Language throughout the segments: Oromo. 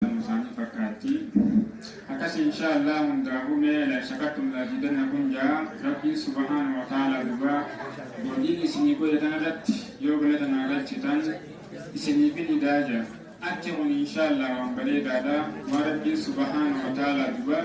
Nuu isaanii fakkaatti akkasi inshaa Allah hundaafuu mee la shakattum la azidanna kun jaa rabbiin subhaana wa ta'ala dhugaa godhiin isinii godhe tana irratti yoo galata naa galchitan isiniifin idaa jaa achi kun inshaa Allah waan bareedaadha waan rabbiin subhaana wa ta'ala dhugaa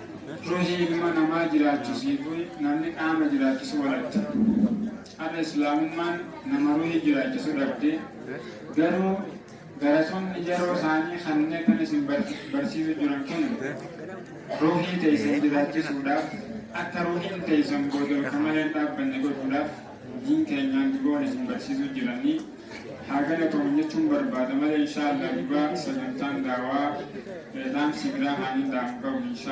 Ruuhii ilma namaa jiraachisiifuun namni qaama jiraachisu walatte. Har'a Islaamummaan nama ruuhii jiraachisu dhabde. Garuu garatoonni yeroo isaanii kanneen kan isin barsiisu jiran kun ruuhii teessan jiraachisuudhaaf akka ruuhiin teessan boodarka malee hin dhaabbanne godhuudhaaf diin keenyaan duboon isin barsiisu jiranii haa galatoomnu jechuun barbaada malee inshaa Allah dubaa sagantaan daawaa dhaamsi biraa haa hin daamu qabu inshaa